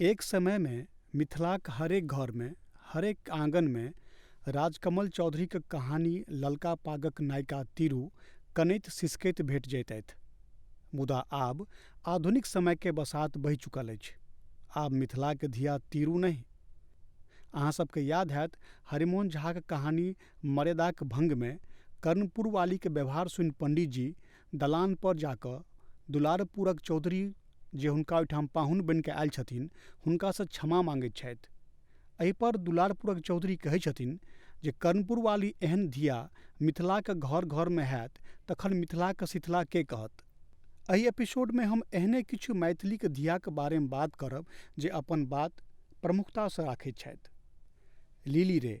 एक समय मे मिथिलाक हरेक घर मे, हरेक आँगन मे राजकमल चौधरीक कहानी ललका पागक नायिका तिरु कनैत सिसकैत भेट जैतैथ। मुदा आब आधुनिक समय के बसात बहि चुकल अछि। आब मिथिलाक धिया तिरु नहि। अहाँ सब के याद हैत हरिमोहन झाक कहानी मर्यादाक भंग मे कर्णपुरवालीक व्यवहार सुनि पंडित जी दलान पर जा कऽ दुलारपुरक चौधरी जे हुनका ओहिठाम पाहुन बनि कऽ आयल छथिन हुनका सँ क्षमा माँगैत छथि। एहि पर दुलारपुरक चौधरी कहैत छथिन जे कर्णपुर वाली एहन धिया मिथिलाक घर-घर मे हएत तखन मिथिलाक शिथिला के कहत? एहि एपिसोड मे हम एहने किछु मैथिलीक धियाक बारे मे बात करब जे अपन बात प्रमुखता सँ राखैत छथि। लिली रे।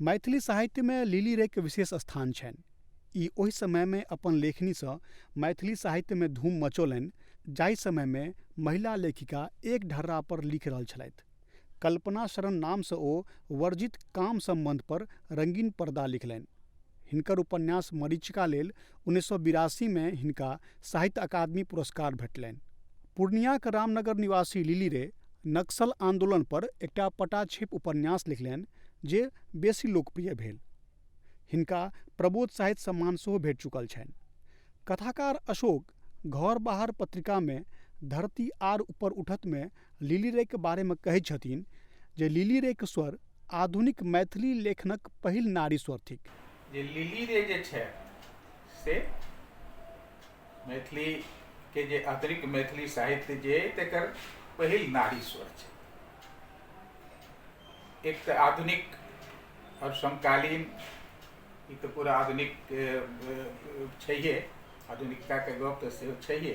मैथिली साहित्यमे लिली रेके विशेष स्थान छनि ई ओहि समयमे अपन लेखनीसँ मैथिली साहित्यमे धूम मचौलनि जाहि समयमे महिला लेखिका एक ढर्रा पर लिखि रहल छलथि कल्पना शरण नामसँ ओ वर्जित काम सम्बन्ध पर रङ्गीन पर्दा लिखलनि हिनकर उपन्यास मरीचिका लेल उन्नैस सए बिरासी मे हिनका साहित्य अकादमी पुरस्कार भेटलनि। पूर्णियाक रामनगर निवासी लिली रे नक्सल आन्दोलन पर एकटा पटाक्षेप उपन्यास लिखलनि जे बेसी लोकप्रिय भेल। हिनका प्रबोध साहित्य सम्मान सेहो भेट चुकल छनि। कथाकार अशोक घर बाहर पत्रिका मे धरती आर ऊपर उठत मे लिली रेक बारेमे कहैत छथिन जे लिली रेक स्वर आधुनिक मैथिली लेखनक पहिल नारी स्वर थिक जे लिली रे जे छै से मैथिलीके जे अतिरिक्त मैथिली साहित्य जे अइ तकर पहिल नारी स्वर छै एक तऽ आधुनिक आओर समकालीन ई तऽ पूरा आधुनिक छैहे आधुनिकताके गप तऽ सेहो छैहे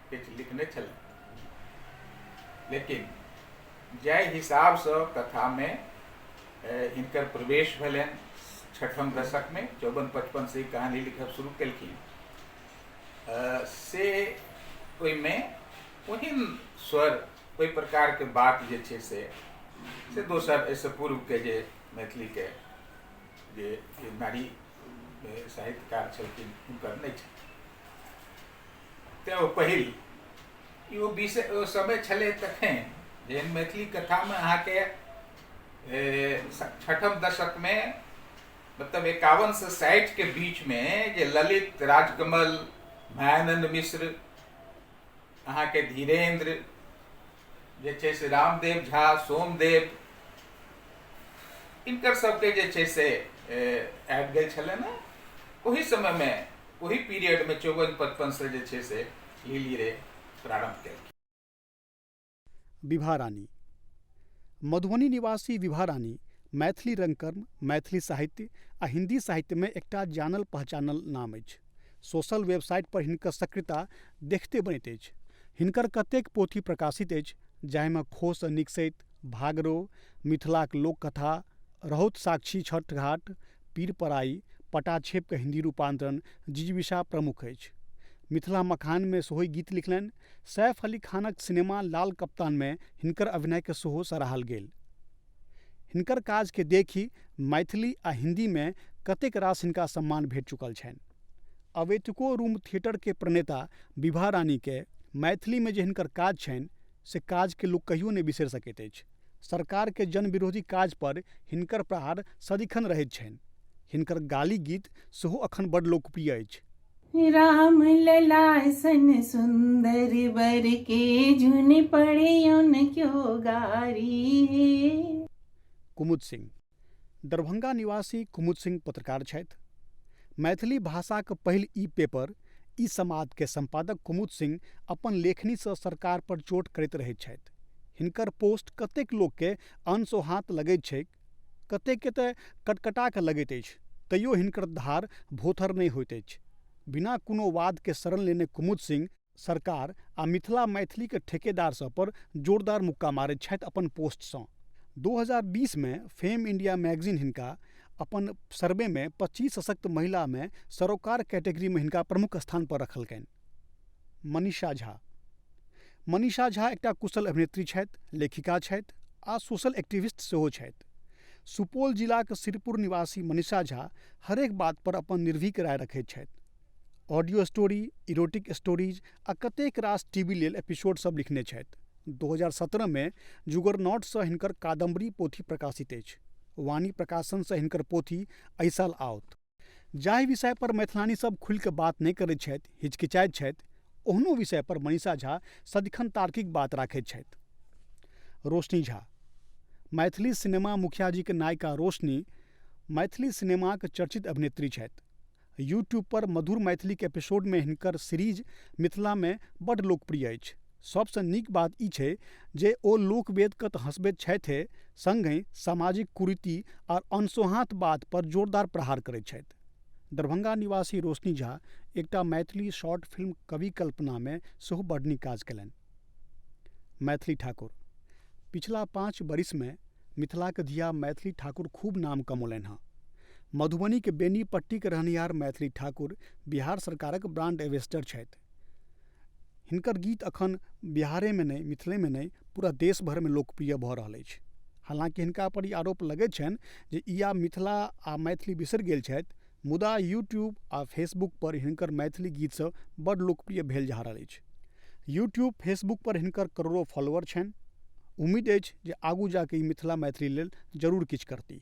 किछु लिखने छलथि लेकिन जाहि हिसाबसँ कथामे हिनकर प्रवेश भेलनि छठम दशकमे चौवन पचपनसँ ई कहानी लिखब शुरू केलखिन से ओहिमे ओहन स्वर ओहि प्रकारके बात जे छै से से दोसर एहिसँ पूर्वके जे मैथिलीके जे नारी साहित्यकार छलखिन हुनकर नहि छलखिन तैँ ओ पहिल ई ओ विषय ओ समय छलै तखन जे मैथिली कथामे अहाँके छठम दशकमे मतलब एकावन से साठिके बीचमे जे ललित राजकमल भयानन्द मिश्र अहाँके धीरेन्द्र जे छै से रामदेव झा सोमदेव इनकर सबके जे छै से आबि गेल छलै ने ओहि समयमे ओहि पीरियडमे चौवन पचपनसँ जे छै से लीली रे प्रारम्भ केलखिन विभा रानी मधुबनी निवासी विभा रानी मैथिली रंगकर्म मैथिली साहित्य आ हिंदी साहित्यमे एकटा जानल पहचानल नाम अछि सोशल वेबसाइट पर हिनकर सक्रियता देखिते बनैत अछि। हिनकर कतेक पोथी प्रकाशित अछि जाहि मे खोह सँ निकसैत भागरो, मिथिलाक लोककथा, रहौत साक्षी छठघाट, पीरपराई, पटाछेप क हिन्दी रूपांतरण, जिजीविषा प्रमुख अछि। मिथिला मखान मे सेहो गीत लिखलनि। सैफ अली खानक सिनेमा लाल कप्तान मे हिनकर अभिनय केँ सेहो सराहल गेल। हिनकर काज के देखि मैथिली आ हिन्दी मे कतेक रास हिनका सम्मान भेट चुकल छनि। अवैतुको रूम थियेटर के प्रणेता विभा रानी के मैथिली मे जे हिनकर काज छनि से काज के लोक कहियो नहि बिसरि सकैत अछि। सरकार के जन विरोधी काज पर हिनकर प्रहार सदिखन रहैत छनि। हिनकर गाली गीत सेहो अखन बड लोकप्रिय अछि। राम ललाय सन सुंदर बर के जुन पड़े उन क्यों गारी हे कुमुद सिंह दरभंगा निवासी कुमुद सिंह पत्रकार छथि मैथिली भाषाक पहिल ई पेपर ई समाद के संपादक कुमुद सिंह अपन लेखनी से सरकार पर चोट करैत रहैत छथि हिनकर पोस्ट कतेक लोक के अनसोहात लगैत छैक कतेकके तऽ कटकटा कऽ लगैत अछि तैयो हिनकर धार भोथर नहि होइत अछि बिना कोनो वादके शरण लेने कुमुद सिंह सरकार आ मिथिला मैथिलीके ठेकेदार सब पर जोरदार मुक्का मारैत छथि अपन पोस्टसँ दू हजार बीसमे फेम इण्डिया मैगजीन हिनका अपन सर्वेमे पचीस सशक्त महिलामे सरोकार कैटेगरीमे हिनका प्रमुख स्थान पर रखलकनि मनीषा झा मनीषा झा एकटा कुशल अभिनेत्री छथि लेखिका छथि आओर सोशल एक्टिविस्ट सेहो छथि सुपौल जिलाके सिरपुर निवासी मनीषा झा हरेक बातपर अपन निर्भीक राय रखै छथि ऑडियो स्टोरी इरोटिक स्टोरीज आओर कतेक रास टी वी लेल एपिसोड सब लिखने छथि दू हजार सतरहमे जुगरनौटसँ हिनकर कादम्बरी पोथी प्रकाशित अछि वाणी प्रकाशनसँ हिनकर पोथी अइ साल आओत जाहि विषय पर मैथिलानी सब खुलि कऽ बात नहि करैत छथि, हिचकिचाइत छथि, ओहनो विषय पर मनीषा झा सदिखन तार्किक बात राखैत छथि। रोशनी झा। मैथिली सिनेमा मुखिया जीक नायिका रोशनी मैथिली सिनेमाक चर्चित अभिनेत्री छथि। यू ट्यूब पर मधुर मैथिलीक एपिसोड मे हिनकर सीरीज मिथिला मे बड लोकप्रिय अछि। सभसँ नीक बात ई छै जे ओ लोकवेदकेँ तऽ हँसबैत छथिए सङ्गहि सामाजिक कुरीति आ अनसोहाँत बात पर जोरदार प्रहार करैत छथि। दरभंगा निवासी रोशनी झा एकटा मैथिली शॉर्ट फिल्म कवि कल्पना मे सेहो बड नीक काज केलनि। मैथिली ठाकुर। पिछला पाँच बरिस मे मिथिलाक धिया मैथिली ठाकुर खूब नाम कमौलनि हँ। मधुबनीक बेनीपट्टीक रहनिहार मैथिली ठाकुर बिहार सरकारक ब्रांड एंबेसडर छथि। हिनकर गीत एखन बिहारेमे नहि मिथिलेमे नहि पूरा देश भरिमे लोकप्रिय भऽ रहल अछि हलाँकि हिनका पर ई आरोप लगै छनि जे ई आब मिथिला आ मैथिली बिसरि गेल छथि मुदा यूट्यूब आ फेसबुक पर हिनकर मैथिली गीत सभ बड्ड लोकप्रिय भेल जा रहल अछि यूट्यूब फेसबुक पर हिनकर करोड़ो फॉलोअर छनि उम्मीद अछि जे आगू जाके ई मिथिला मैथिली लेल जरूर किछु करती